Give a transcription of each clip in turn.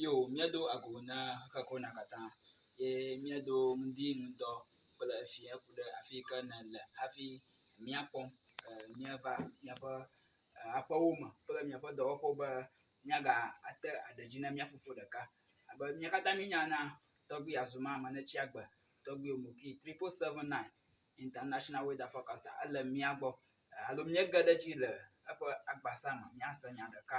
Yo, míedo agu na xexekɔna katã, ye míedo ŋdi ŋudɔ kple fiẽ ku ɖe afi yi ke nèle hafi mía kpɔm e, míeva míaƒe e, aƒewo me kple míaƒe dɔwɔƒewo be míagate aɖe dzi na mía fofo ɖeka. Abe mía katã míenya na tɔgbui Azuma Manetsiagbe, tɔgbui Omoki 7779 International Weather Forecaster, ele mía gbɔ e, alo míege ɖe edzi le eƒe agbasa me míase nya ɖeka.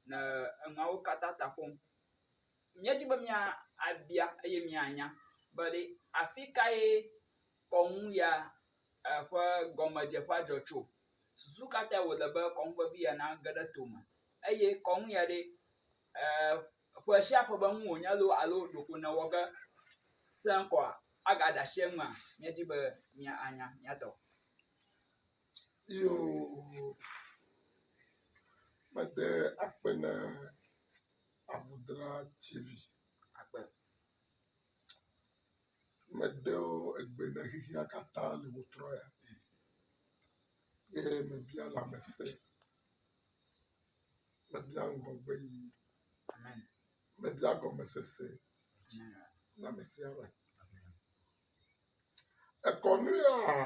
le enuawo katã ta ƒom. Míedi be míabia eye míanya be ɖe afi kae kɔnu ya ƒe gɔmedzeƒea dzɔ tso. Susu ka tae wòle be kɔnu vevi ya nage ɖe tome eye kɔnu ya ɖe ƒe sia ƒe be enu wònye loo alo ɖeko newɔ ge sẽ kɔa, agade asi enua? Míedi be míanya, míatɔ. mede akpe na ŋudzrativi aɖe, medo egbe na xexea katã le ŋutrɔ ya dzi eye mebia lãmesẽ, mebia ŋgɔgbe yi, mebia gɔmesese na ame sia ame. Ekɔ nu yaa.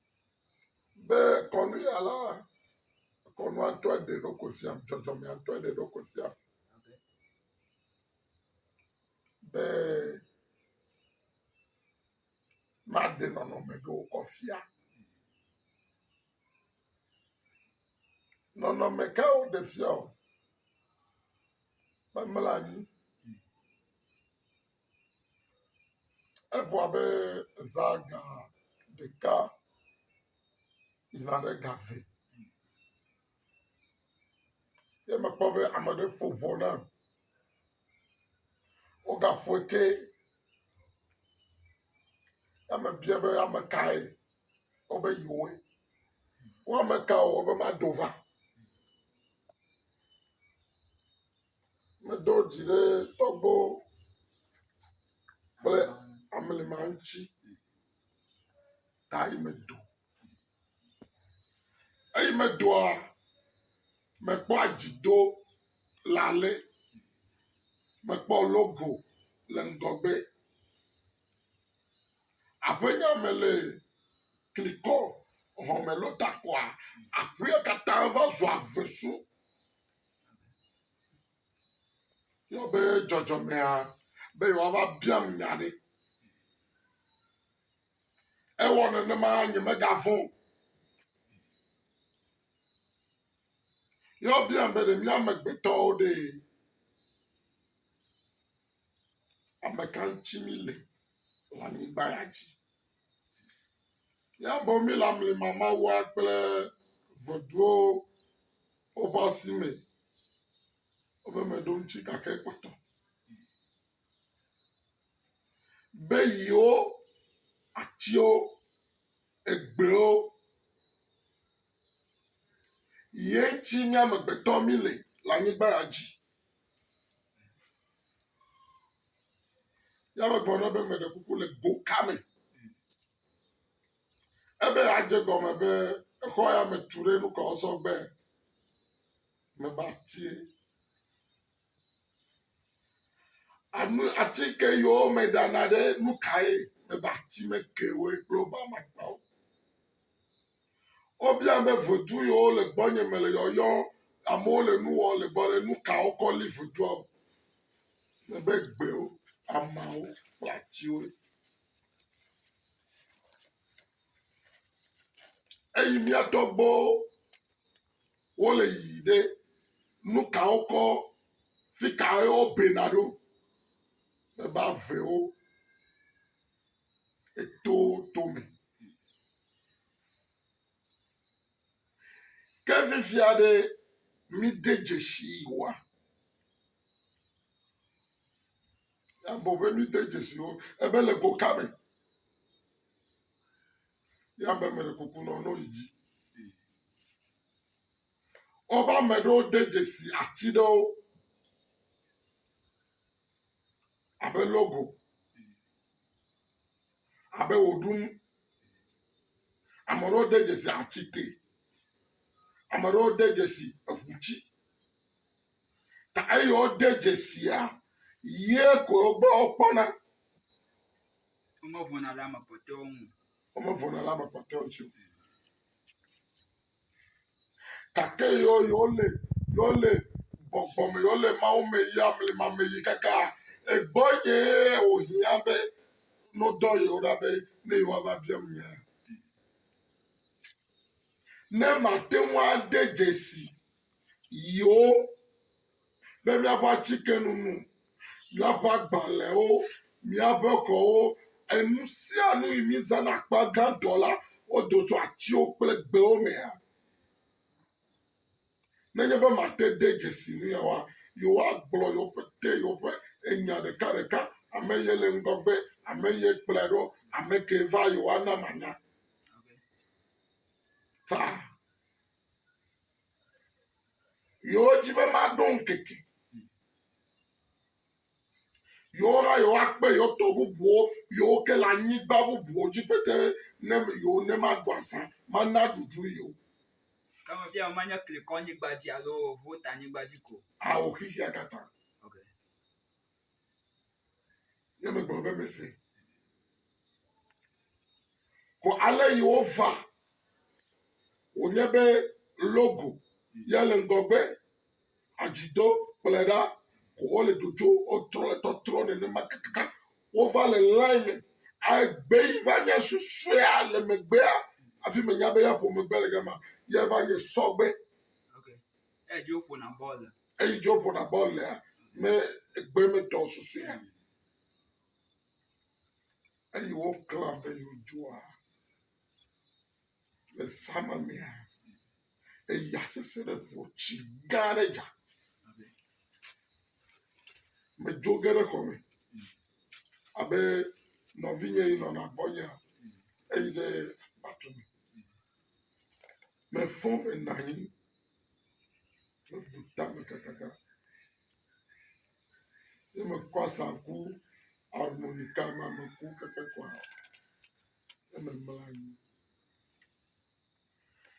be kɔnuya la, kɔnua ŋutɔ ɖe ɖo kofia, dzɔdzɔmea ŋutɔ ɖe ɖo kofia be maɖe nɔnɔme ɖo kɔfia. Nɔnɔme ka woɖe fia o? Memlɔ anyi. Egbɔ abe zã ga ɖeka yina ɖe ga eve ye mekpɔ be ame aɖe ƒo ʋɔ nam. Wogaƒoe ke ye mebia be ame kae wobe yewoe. Wo ame ka o wobe mado va. Medo dzi ɖe tɔgbuiwo. kple ablema ŋuti ta yi medo. Eyi medoa, mekpɔa dzidolanɛ, mekpɔ logo le ŋgɔgbe. Aƒenya me le klikɔ xɔme lota kɔa aƒea katã va zua vesu. Yɔ be dzɔdzɔmea be yewoava biam nya aɖe. Ewɔ nenema nyemegavɔ̃ o. Ye wobiam be ɖe mí amegbetɔwo ɖe ame ka ŋuti míle le anyigba ya dzi. Míamewo míle amlimamawoa kple Ŋeduwo woƒe asi me woƒe meɖomti gake kpɔtɔ. Be yiwo atiwo egbewo ye ŋuti mí amegbetɔ mí le le anyigba ya dzi. Ya me gblɔ ɖe be meɖe kuku le go ka me. Ebe adze gɔme be exɔ ya me tu ɖe nukɔ sɔgbe me ba tie. Anu atike yiwo me ɖana ɖe nukae me ba ti me ke wo kple woƒe amakpawo. Wobia be vodu yiwo le gbɔnye me le yɔyɔ amewo le nu wɔm le gbɔ le nu ka wokɔ li vodua o. Ne be gbewo, ameawo kple atiwoe. Eyi mía tɔgbuiwo wole yiyi ɖe nu ka wokɔ fi ka ye wobena ɖo. Ne be avewo. eto tome. Ke fifia ɖe mide dzesi woa? Abɔ be mide dzesi wo ebe le go ka me. ya me mele kuku nɔ no yi dzi woƒe ame ɖewo de dzesi ati ɖewo abe logo abe wò ɖum ame ɖewo de dzesi ati te ame ɖewo de dzesi eŋu dzi ta eye wode dzesia ye ko gbɔ wokpɔna. Womevɔna le ame. womevɔ̃na le ame kpɔtɔewo ŋuti o. Gake yewo yewole yewole gbɔgbɔ me yewole Mawu me yia blema me yi kaka egbɔnyee wòhiã be nodɔ yewo ɖa be ne yewoava biam nya. Ne mate ŋu ade dzesi yewo be míaƒe atikenu nu míaƒe agbalẽwo, míaƒe xɔwo, enu sia nu yi mízãna akpa gãtɔ la, wodo tso atiwo kple gbewo mea? Nenye be mate de dzesi nuyawoa, yewoagblɔ yewo pete yewoƒe enya ɖekaɖeka, ame ye le ŋgɔgbe, ame ye kplɔe ɖo, ame kee va yewoana manya. Ta. Yewo dzi be maɖo ŋkeke. Yewo hã yewo akpe yewo tɔ bubuwo yewo ke le anyigba bubuwo dzi be te ne yewo ne maɖu azã mana ɖuɖu yewo. Ke fiawo manye klikɔ anyigba dzi alo vota anyigba dzi ko. Ao xixia katã. Ok. Ne megblɔ be mese. Vɔ ale yi wova wònye be logo ya le ŋgɔgbe, adzi do kplɔe ɖa ko wole dzodzom wotrɔ le tɔtrɔ nenema kakaka wova le line me agbe yi va nye susɔea le megbea hafi menya be ya ƒo megbe le gama ya va nye sɔgbe. Okay. Eyi dzi woƒona bɔl le. Eyi dzi woƒona bɔl lea me egbe me tɔ susɔea. eye woklã be yewodzoa le zãme mea, eya sesẽ ɖe ŋua tsi gã aɖe dza. Medzo ge ɖe xɔme abe nɔvinye yi nɔna gbɔnyea eyi ɖe aƒeatɔ me. Mefɔ menɔ anyi mebu ta me kakaka. ne mekɔ asaŋku harmonika ma meku keke kɔa ne memla anyi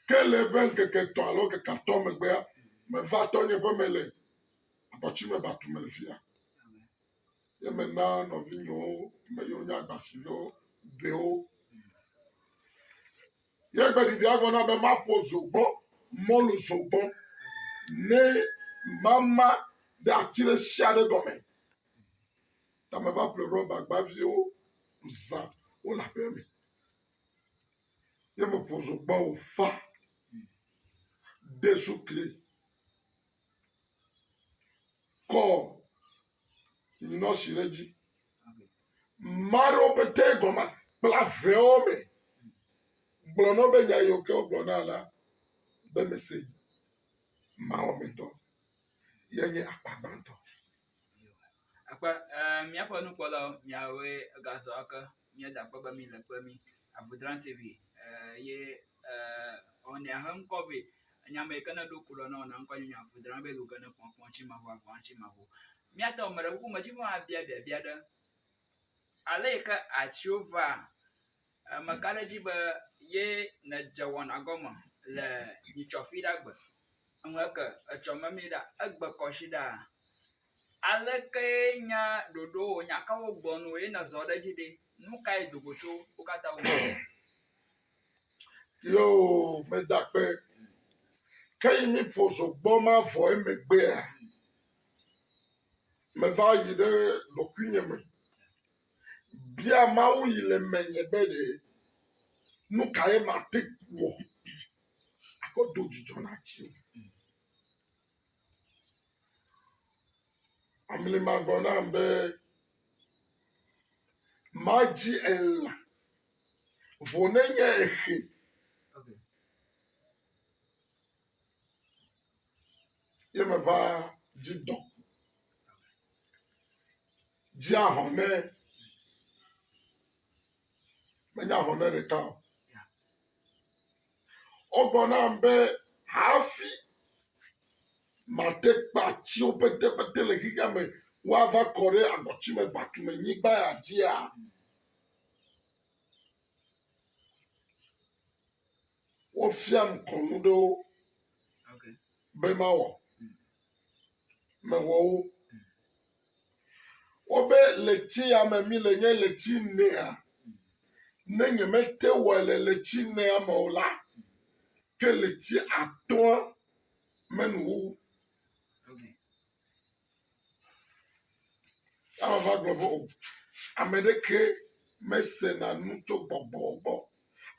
ke le eƒe ŋkeke tɔ alo ŋkeke atɔ megbea meva tɔ nye ƒe me le abɔtsi me batu me fia ye mena nɔvinyewo me yewo nye agbasiviwo ɖewo Ye gbeɖiɖia gblɔ nam be maƒo zogbɔ, mɔlu zogbɔ, ne mama ɖe ati ɖe sia ɖe gɔme. Ta meva ƒle rɔbagba viwo zã wole aƒea me. Ye meƒo zogbɔ wòfa, ɖe sukli, kɔ nyinɔsi ɖe edzi. Maɖewo pete gɔme kpla vewo me gblɔ nɔ be nya yiwo ke wogblɔ na la be mese yi. Mawo me tɔ ye nye akpa gbãtɔ. Akpa e míaƒe nukpɔlawo miawoe gazɔ ake míeda akpe be mi le kpe mi Avodran TV e ye e ɔnea he ŋkɔ be enya me ke ne ɖo kulɔ na ɔna ŋkɔ nye Avodran be luge ne kpɔkpɔ. ŋutsimaŋu agblɔ ŋutsimaŋu. Míate ŋu ame ɖe ƒe ƒomedzi ƒe hã abia biabia ɖe ale yi ke atiwo vaa, ame ka ɖe dzi be ye nedze wɔna gɔme le nyitsɔfi ɖa gbe eŋu eke etsɔ memee ɖa egbe kɔ si ɖaa. Alekee nya ɖoɖowo nya ka wogbɔ na wò ye nèzɔ ɖe edzi ɖe? Nu kae do go tso wo katã wo gbɔ? Yoo, meda akpe Ke yi míƒo zogbɔ ma vɔ emegbea, meva yi ɖe ɖokuinye me bia Mawu yi le menye be ɖe nu kae mate wɔ akpɔ do dzidzɔ na dzi. Amli ma gblɔ nam be madzi elã vɔ nenye exe. ye meva dzi dɔ. Dzi ahɔnɛ, menye ahɔnɛ ɖeka o. Wogblɔ nam be hafi mate kpa tsiwo petepete le xexea me woava kɔ ɖe agɔtimegbatumenyigba ya dzia, wofiam kɔnu ɖewo be mawɔ mewɔ wo wobe le ti ya me mi le nye le ti nea ne nye me te wɔ le le ti nea me o la ke le ti atɔa me nu wo Ya vava gblɔ be, O, ame ɖeke mesena nu tso gbɔgbɔ gbɔ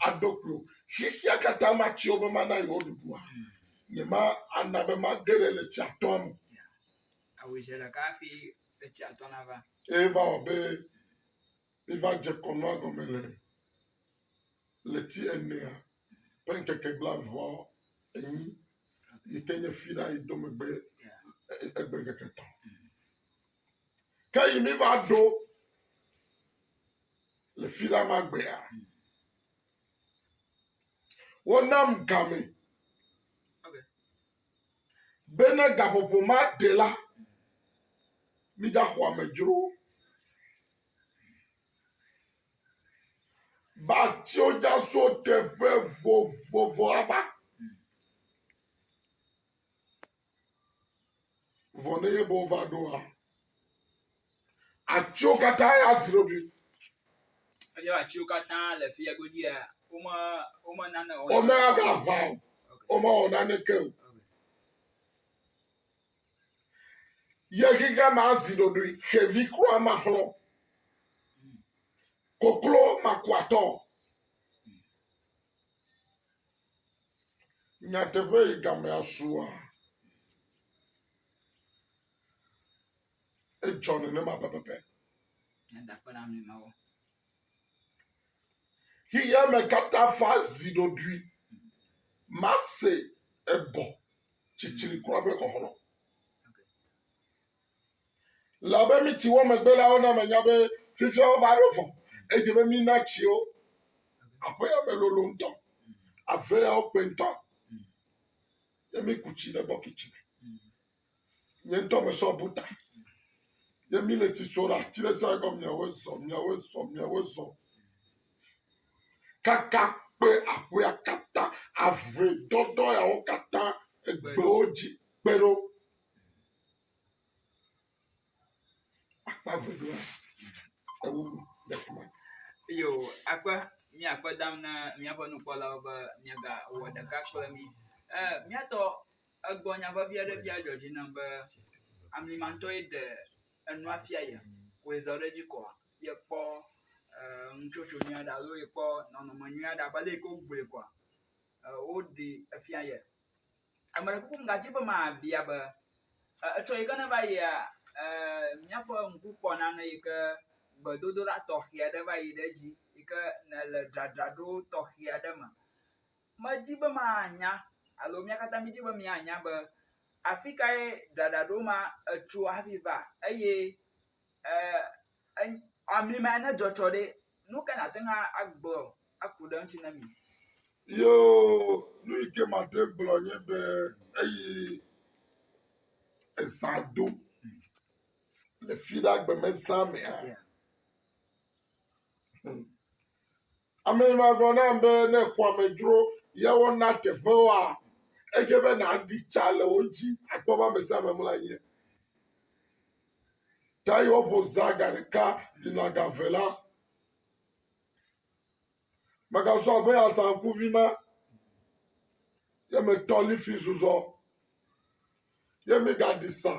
aɖo kpli wò. Xexea katã mati wo be mana yewoaɖuɖua? Nyemana be mage ɖe le tsia tɔa me. Awu zi ɖeka hafi le tsia tɔ nava. Eye va wɔ be miva dze kɔnua gɔme le ɣleti enea ƒe ŋkeke blaeveawo enyi yi ke nye Fira yi do megbe egbe ŋkeke tɔ. Ke yi mi va ɖo le fi la ma gbea, wonam game be ne gaƒoƒo ma ɖe la, mi da xɔ amedzro. Ba tio dza so teƒe vovovo ava. Vɔ ne yebe wova ɖoa, atiwo katã azri wo ɖi. Eye atiwo katã le fia godzia, wome wome nane o. Wome ava ʋã o, wome wɔ naneke o. ye xixe ma zi ɖoɖoe xevi kura maxlɔ koklo makuatɔ. Nyateƒe yi game asua. Edzɔ nenema pɛpɛpɛ. Xexeame katã fa zi ɖoɖoe. Mase egɔ tsitsri kura be xɔxlɔ̃. Le abe miti wɔ megbe la wona menya be fifia wova ɖo vɔ. Edze be mina tsiwo aƒeya me lolo ŋutɔ. Aveawo kpe ŋutɔ. Ye miku tsi ɖe bɔkiti me. Nye ŋutɔ mesɔ bu ta. Ye mi le tsi sɔ ɖe ati ɖe sia gɔme miawo zɔ miawo zɔ miawo zɔ. Kaka kpe aƒea katã avɔe dɔdɔ yawo katã egbewo dzi kpe ɖo. Akpa velia ewu le fi ma. eye wò akpe mía akpe dam ne míaƒe nukpɔlawo be míegawɔ ɖeka kple mí. E, míatɔ egbɔ nya vevi aɖe fia dzɔ dzi nam be amlimantɔ ye ɖe enua fia ye wòe zɔ ɖe edzi kɔa ye kpɔ e, nutsotso nyui aɖe alo ye kpɔ nɔnɔme nyui aɖe abe ale yi ke wogbɔe kɔa woɖi efia ye. Ame ɖe kuku megadi be mabia be etsɔ yi ke ne va yia míaƒe ŋku kpɔ nane yi ke gbedodoɖa tɔxe aɖe va yi ɖe edzi yi ke nele dzadzraɖo tɔxe aɖe me. Medi be manya alo mía katã mídi be míanya be afi kae dzadzraɖo ma etso hafi va eye e e amlima ne dzɔ tsɔ ɖe nu ka nate ŋu agblɔ aku ɖe eŋuti na mi. Yoo, nu yi ke mate ŋu agblɔ nye be eyi eza do le fi ɖe agbemeza mea, hm, ame ma gblɔ nam be ne èkpɔ amedzro ye wona teƒewoa, edze be nàɖi tsa le wo ŋuti akpɔ be ame sia ame mlɔ anyi. Ta yi woƒo zã ga ɖeka yina ga eve la, Megazɔ abe azãkuvi ma, ye metɔ lifi zuzɔ, ye megaɖi sa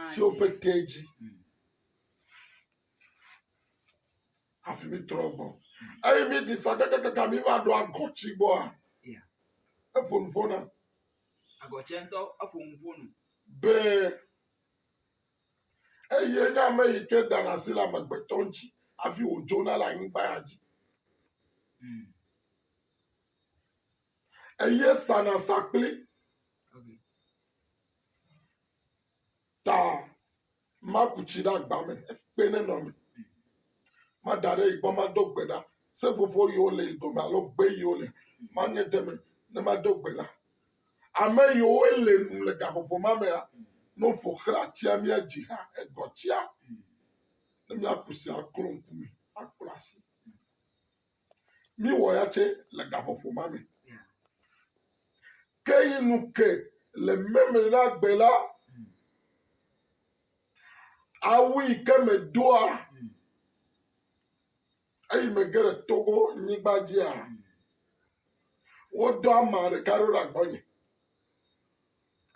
atiwo pete dzi hafi mitrɔ gbɔ. Eye miɖi sa kakakaka miva ɖo agɔti gbɔa, eƒo nu ƒo na. Agɔtia ŋutɔ eƒo nu ƒo nu. Be. Eye nye ame yi ke dana asi le amegbetɔ ŋuti hafi wòdzona le anyigba ya dzi. Eye sana sa kpli ta maku tsi ɖe agba me kpe ne nɔ me. Mada ɖe yi gbɔ mado gbe ɖa. Seƒoƒo yiwo le yi dome alo gbe yiwo le manye de me ne mado gbe ɖa. Ame yiwo le nu le gaƒoƒo ma mea, Ne woƒo xlã atia mía dzi hã egɔtia, ne mía kusi aklɔ ŋku me akpla asi. Míwɔ ya tse le gaƒoƒo ma me. Ke yi nu ke le meme na gbe la, awu yi ke medoa eyi mege le Togo nyigba dzia, wodɔ ama ɖeka ɖo ɖe agbɔnye.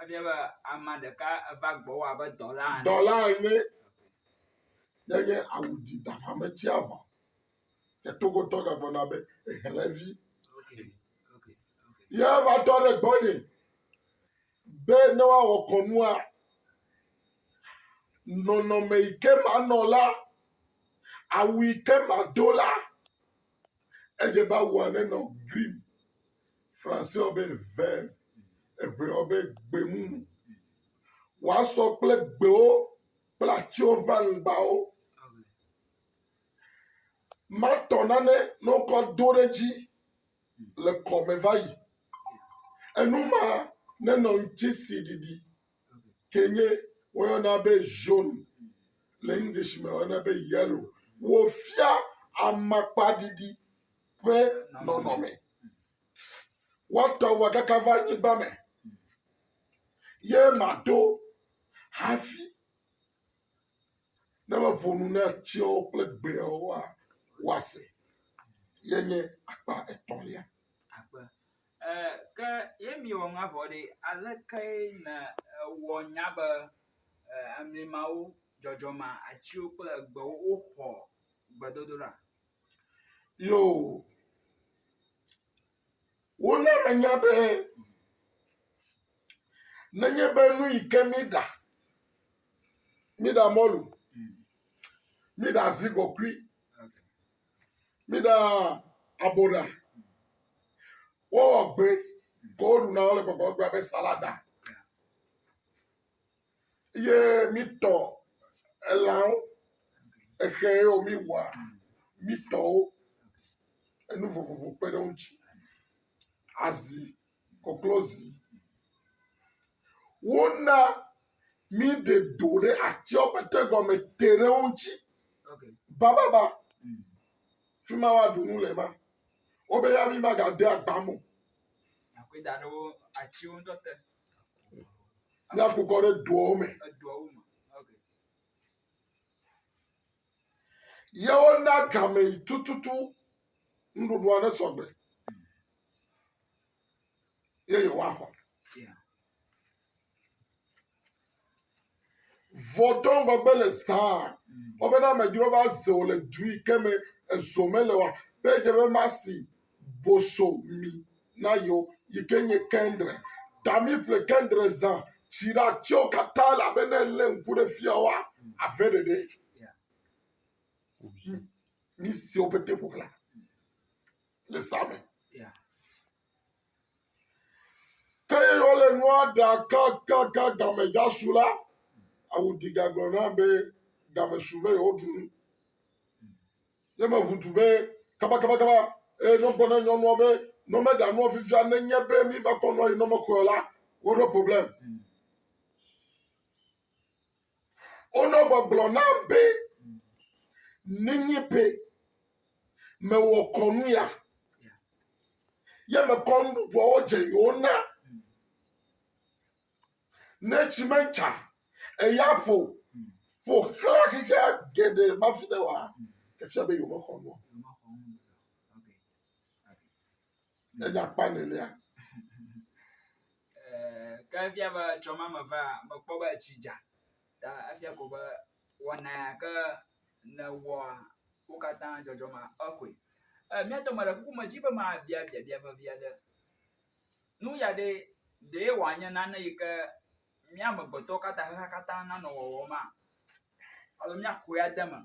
Efia be ame ɖeka eva gbɔ wò abe dɔla ene. Dɔla ene. Ne nye awu dzi da ƒe ame tsia vɔ. Ke togodɔ gagblɔna be ehelevi. Ye va tɔ ɖe gbɔ nye be ne woawɔ kɔnua nɔnɔme yi ke manɔ la, awu yi ke mado la, edze be awua nenɔ green. Français be vert, Hebreo be gbemumu. Woasɔ kple gbewo kple atiwo ƒe aŋgbawo. Matɔ nane ne wokɔ do ɖe edzi le kɔme va yi. Enu ma nenɔ ŋutisi ɖiɖi ke nye woyɔna be jaune le English me woyɔna be yellow. Wofia amakpaɖiɖi ƒe nɔnɔme. Woatɔ wò akaka va anyigba me ye maɖo hafi ne meƒo nu na atiawo kple gbeawo hã woase. Ye nye akpa etɔ̃lia. Akpe. E, ke ye mi wɔ ŋa vɔ ɖe, aleke na wɔ nya be e, amli mawo dzɔdzɔma atsiwo kple egbewo woxɔ gbedodoɖa. Yoo, wona menya be nenye be nu yi ke míeɖa, míeɖa mɔlu, míeɖa zigɔkui, míeɖa aboɖa, wowɔ gbe, ke woɖuna wole gbɔgblɔm be salada. Ye mi tɔ elãwo, exɛ ye wo mi wɔa, mi tɔ wo enu vovovo kpe ɖe wo ŋuti. Azi, koklozi. Wo na mi ɖe do ɖe atsɔ ƒe te gɔme te ɖe wo ŋuti bababa. Fi ma wa ɖu nu le ma. Wo be ya mi ma ga de agba me o. ne aku kɔ ɖe duawo me. Yewo na game tututu nuɖuɖua ne sɔgbe. Ye yewoa xɔ. Vɔdɔ ŋgɔgbe le saa. Wɔbena amedzro va zeo le du yi ke me ezo mele wa. Be dze be masi bosomi nayo yi ke nye kendre. Dami ƒle kendre zã tsi ɖe atiwo katã elabe ne elé ŋku ɖe fia woa, ave ɖeɖe. Nu siwo pete ƒo xlã le zã me. Ke ye wole nua ɖa kakaka game dza su la, awudiga gblɔ na be game su be yewoɖu nu. Ye me ʋu du be kabakabakaba, eye nɔ gblɔ ne nyɔnua be nɔ me ɖa nua vivia ne nye be mi va kɔ nua yi nɔ me xɔe la, wo ɖo problem. Wo nɔ gbe gblɔ nam be ne nye be me wɔ kɔnu ya, ye me kɔ nuɖuɖuawo dze yewo na. Neti metsa, eya ƒo ƒo xlã xexea geɖe mafi ɖe oa, efia be yewomexɔ nu o. Enye akpa nelia. Eh, ke efia be tsɔ ma me va, mekpɔ be etsi dza. Ta efia ko be wɔna ya ke nèwɔa, wo katã dzɔdzɔmea, exɔe. Eh, mía tɔ mele kuku me dzi be mabiabiabia vevi aɖe. Nu ya ɖe, ɖee wòanye nane yi ke mía amegbetɔwo katã, xexea katã nanɔ wɔwɔm maa? Alo míaxɔe ade eme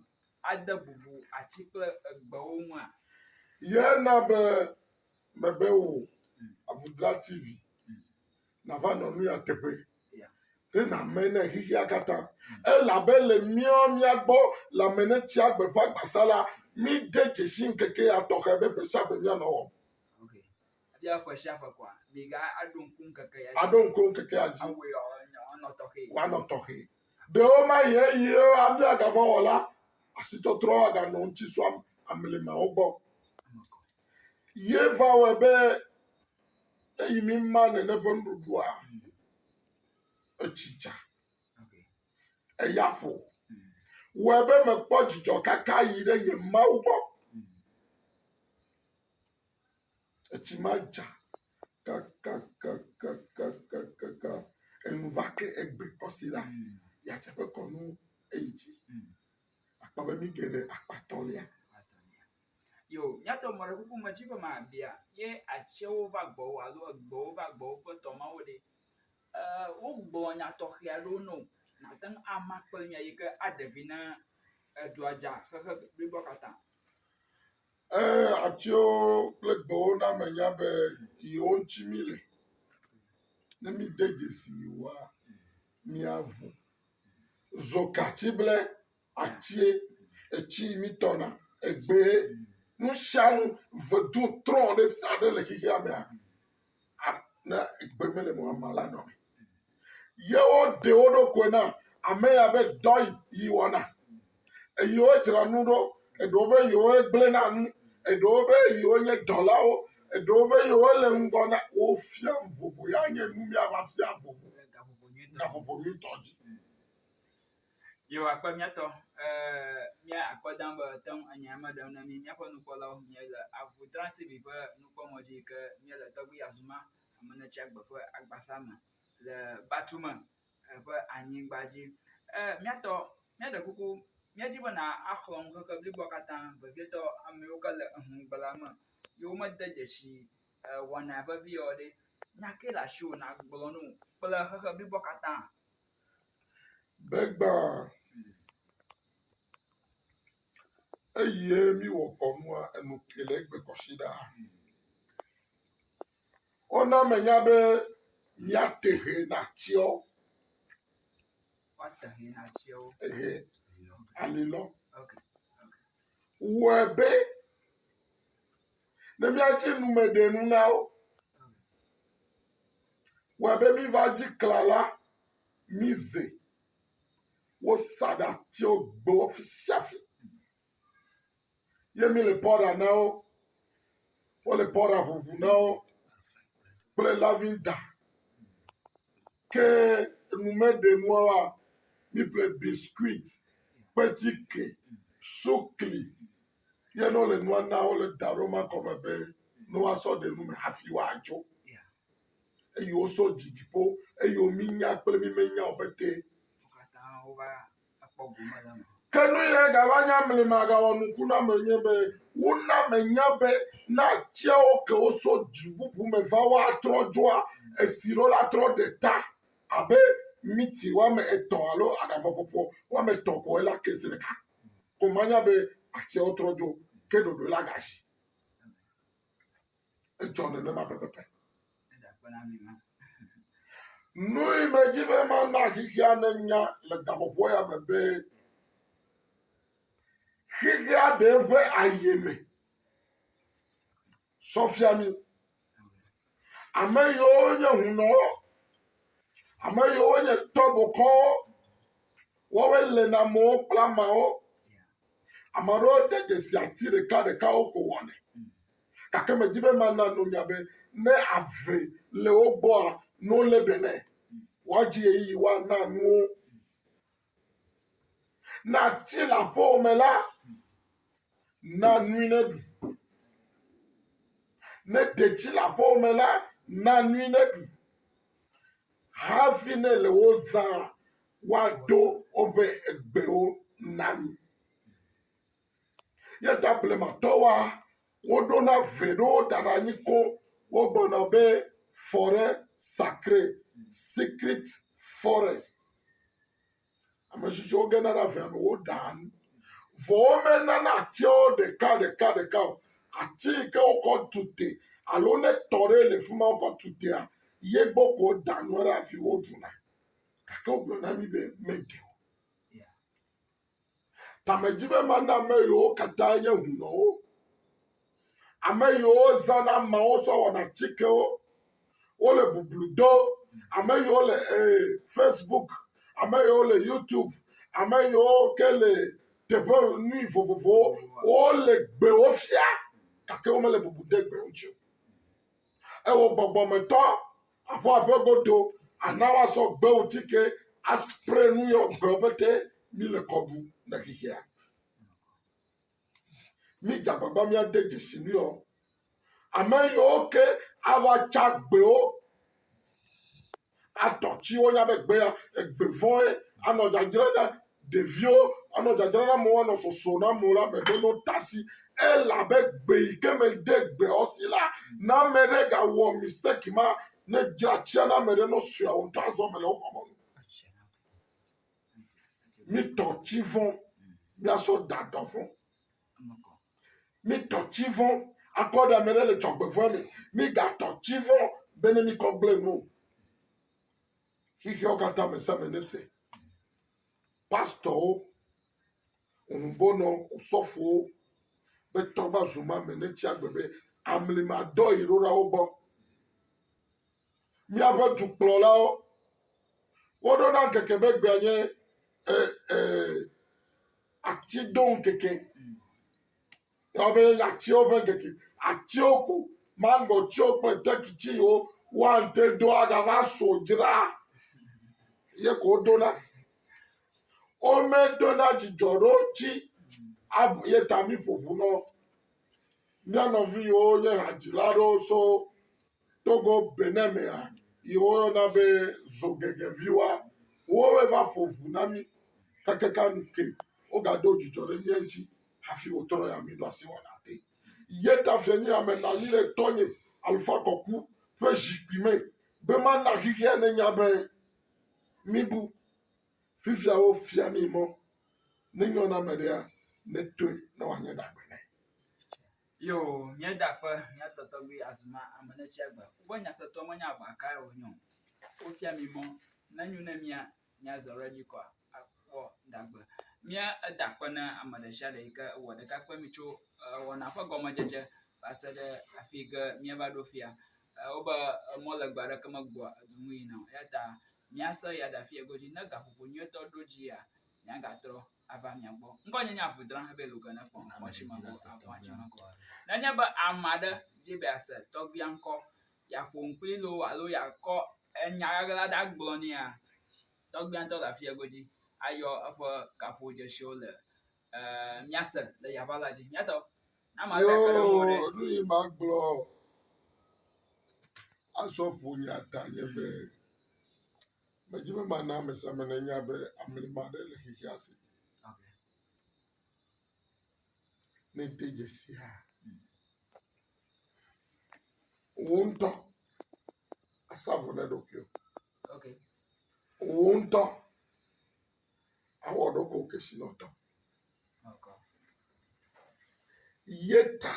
ade bubu ati kple gbewo ŋua? Ye na be mebe wò Avudra TV nava nɔ nu ya teƒe ɖe nàme ne xexea katã. Elabe le míɔ mía gbɔ le Amenetia Gbeƒãgbasa la, míde dzesi ŋkeke ya tɔxɛ be ƒe sia ƒe míanɔ wɔm. Aɖo ŋku ŋkekea dzi. Woanɔ tɔxɛ. Ɖewo ma yi eye abia gavɔwɔla asitɔtrɔ aganɔ ŋuti sua amlimawo gbɔ. Ye va wɔe be eyi mi ma nene ƒe nuɖuɖua etsi dza. Eya ƒo. Wɔe be mekpɔ dzidzɔ kaka yi ɖe nye Mawu gbɔ. Etsi ma dza kakakakakakaka enu va ke egbe kɔ si la, ya teƒe kɔ nu eyi dzi. Akpɔ be nu geɖe akpatɔ lia. Yo, míatɔ mɔ ɖe kuku me dzi be mabia ye atsiwo va gbɔwò alo egbewo va gbɔwò ƒe tɔ mawo ɖe. E, wogblɔ nya tɔxɛ aɖewo na wò nàte ŋu ama kple mía yi ke aɖe vi na edua dza xexe bliboa katã. Ẽ, atiwo kple gbewo na menya be yewo ŋuti míle. Ne míede dzesi yewoa, míaŋu. Zokatsible, atie, etsi yi mítɔna, egbee, nu sia nu, vedu trɔ ɖe sia ɖe le xexeamea, ne gbe mele me o, amea la nɔ me. Ye woɖe wo ɖokui na ame ya be dɔ yi wɔna. Eye wodzra nu ɖo. Eɖewo be yewoe gblẽna nu. Eɖewo be yewo nye dɔlawo. Eɖewo be yewo le ŋgɔ na wo fia nu vovo. Ya nye nu mía va fia vovo le gaƒoƒo nyuitɔ dzi. Yehowa kpɔ mía tɔ. Mía akpɔ dã be ate ŋu enya ma ɖem ne mí. nukpɔlawo míae le Avutra TV ƒe nukpɔmɔ dzi yi ke míele Tɔgbui Azuma Amenetsiagbe ƒe agbasa me le Batume ƒe anyigba dzi. E, míatɔ, míaɖe kuku, míadi be nàxlɔ ŋkeke bliboa katã vevietɔ amewo ke le eŋugbla me yi womede dzesi e, wɔna vevi yewo ɖe. Nya ke le asiwò nàgblɔ no kple xexe bliboa katã. Gbegba. Eyie mi wɔ kɔnua enu ke le egbe kɔsi ɖa. Wona me nya be mia te he na tiɔ. Wata he na tiɔ. Ehe ali lɔ. Wɔ be ne mia dzi nu me ɖe nu na wo. Wɔ be mi va dzi kla la mi ze. wosa ɖe atiwo gbo fi sia fi ye míle pɔɖa na wo. Wole pɔɖa ŋuŋu na wo kple lavinda. Ke numeɖenuawoa, míeƒle biskuiti, kpetsike, sukli ye ne wole nua na wo le da ɖom akɔme be ne woasɔ ɖe nu me hafi woadzo. Eye wosɔ didi ƒo eye wominya kple mimenya wo pɛtɛ. Ke nu ye gava nya mli ma gawɔ nuku na me nye be wo na me nya be na tia wo ke wo so dzu bubu me va wa trɔ dzoa esi ɖo la trɔ ɖe ta abe miti wa me etɔ alo aɖabɔ pɔpɔ wa me tɔ kɔe la ke zi ɖeka ko ma nya be atia wo trɔ dzo ke ɖoɖo la ga zi edzɔ nene ma pɛpɛpɛ. Nui medi be mana xexea nenya le gaƒoƒo ya me be xexea ɖe eƒe ayeme sɔ fia mi. Ame yiwo nye hunɔwo, ame yiwo nye tɔbokɔwo, woawoe le na amewo kple ameawo. Ame aɖewo de dzesi ati ɖekaɖekawo ko wɔnɛ. gake medi be mana no nya be ne ave le wo gbɔa, no lé be nɛ. Woadzi ɣeyiɣi woana nu wo. Ne ati le aƒewo me la, na nui ne ɖu. Ne detsi le aƒewo me la, na nui ne ɖu. Hafi ne le wo zã woaɖo woƒe egbewo na mi. Ye ta blematɔwoa, woɖona ve ɖewo dana nyi ko wogblɔna be fɔre sakre, secret forest. Ametsitsiwo gena ɖe avea me woɖaa nu. Vɔ womenana atiawo ɖeka ɖeka ɖeka o. Ati yi ke wokɔ tu te alo ne tɔ ɖe le fi ma wokɔ tu tea, ye gbɔ ko wodaa nua ɖo hafi woɖuna. Gake wogblɔ na mí be meɖe o. Tamedzimemanɔameyiwo katã nye hunɔwo, ameyiwo zãna ameawo sɔ wɔna atikewo, wole bublu do, ameyiwo le ee facebook, ameyiwo le youtube, ameyiwo ke le teƒe nui vovovowo, wole gbewo fia gake womele bubu dem gbe ŋuti o. Ewɔ gbɔgbɔmetɔ aƒua ƒe godo ana woazɔ gbewo tike aspre nu yɔ gbewo pete mi le kɔbu na xexea. Mi dzagbagba mi ade dzesi nu yɔ. Ame yɔ ke awa tsa gbewo Atɔ tsi wo nya be gbea egbe vɔe anɔ dzadzra na ɖeviwo, anɔ dzadzra na amewo, anɔ sɔsɔ na amewo la me ɖo no tasi elabe gbe yi ke me de gbe wo si la na ame ɖe ga wɔ mistake ma ne dzra tsia na ame ɖe no sɔe wo ŋutɔ azɔ me le wo xɔ me nu. Mi tɔ tsi vɔ, mi asɔ da dɔ vɔ. Mi tɔ tsi vɔ akɔ ɖe ame ɖe le dzɔgbe vɔ me. Mi ga tɔ tsi vɔ be ne mi kɔ gble nu. Xixeawo katã me same ne se. Pastɔwo, ŋubɔnɔ, sɔfowo be tɔ va zu ma me ne tsi agbe be amli ma dɔ yi ɖo ɖa wo gbɔ. Mi abe dukplɔlawo, wo ɖo na ŋkeke be gbea nye eh, eh, Ati do ŋkeke. Abe atiwo ƒe ŋkeke. Atiwo ko, maŋgɔtiwo kple tɛkiti yiwo woate do agava so dzra ye ko wodona. Womedona dzidzɔ ɖe wo ŋuti ye ta miƒo ŋu na wo. Mía nɔvi yiwo nye hadzila aɖewo tso Togo, Benin mea, yi woyɔna be Zogegeviwoa, woe va ƒo ŋu na mí hekeke nu ke. Wogaɖo dzudzɔ ɖe mía ŋuti hafi wotrɔ ya míeɖo asi wɔna te. Yeta fianyiame nɔ anyi ɖe tɔnye, Alfa Kɔku, ƒe zikpui me be mana xexea nenya be míbu. Fifia wofia mí mɔ ne nyɔ na ame ɖea, netoe ne wòanye ɖagbe nɛ. Yo, mía dakpe, mía tɔtɔgbi azuma ame ne tsi agbe. Wobe nyasetɔ menye agba kae wònye o. Wofia mí mɔ ne nyo ne mía míazɔ ɖe edzi kɔa, akpɔ ɖagbe. Mía dakpe ne ame ɖe sia ɖe yi ke wɔ ɖeka kpe mí tso wɔna ƒe gɔmedzedze va se ɖe afi yi ke míava ɖo fia. Wobe mɔlegbe aɖeke megbɔa edu ŋu yina o. Eya ta míasẽ eya ɖafi egodzi. Ne gaƒoƒo nyuietɔ ɖo dzia, míagatrɔ ava mia gbɔ. Ŋgɔnyenye aʋu drã hebe loge nekpɔ ŋkɔ tsi me go aʋua tsi me go. Nenye be ame aɖe di be yease tɔgbuia ŋkɔ, yeaƒo nu kplii loo alo yeakɔ enya ʋaʋla aɖe agblɔ nɛa, tɔgbuia ŋutɔ le afi egodzi ayɔ eƒe gaƒodzesiwo le e míase le yeaʋa la dzi. Hiatɔ, ne ame aɖe kpe ɖe ŋuwò ɖe. Yoo, nu yi magblɔ. Azɔ ƒo nya ta nye be, medi be mana ame sia ame nanya be amlima aɖe le xexea si. Ne ède dzesi hã, wò ŋutɔ asa vɔ na ɖokuiwò. Wò ŋutɔ awɔ ɖokuiwò kesinɔtɔ. Yeta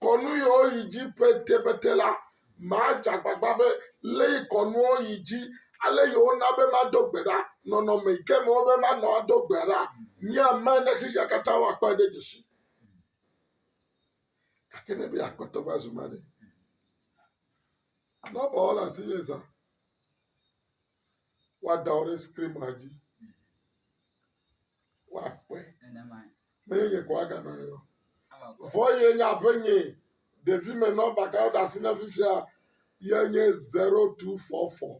kɔ nu yiwo yi dzi petepete la, madze agbagba be lé kɔnuwo yi dzi ale yi wona be mado gbe ɖa, nɔnɔme yi ke me wobe manɔ ado gbe ɖa. Nye ame ne xexea katã woakpɔe ɖe dzesi. Gake ne be yeakpɔtɔ va zu ma ɖe? Alo aba wɔla si nye zã. Woada wo ɖe skrinma dzi. Woakpɔe. Menye nye ko aganɔ ye o. Vɔ ye nye abe nye ɖevi me nɔmba ka woɖe asi na fifia ye nye zero two four four.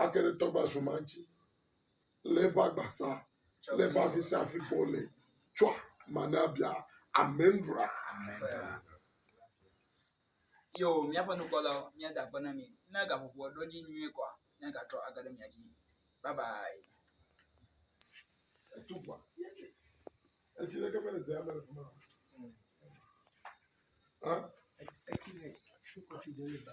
age ɖe tɔgbazu ma dzi le eƒe agbasa le eƒe afi sia afi ke wòle tsɔa ma na bia. Amen ɖua. Yo, míaƒe nukpɔlawo, míada akpe na mi. Ne gaƒoƒoa ɖo dzi nyuie kɔa, míagatrɔ age ɖe mia dzi. Bye bye. Etukpa. Etsi ɖeke mele dea me le fi ma. Hã? Etsi le tukpa fi ɖe le ba.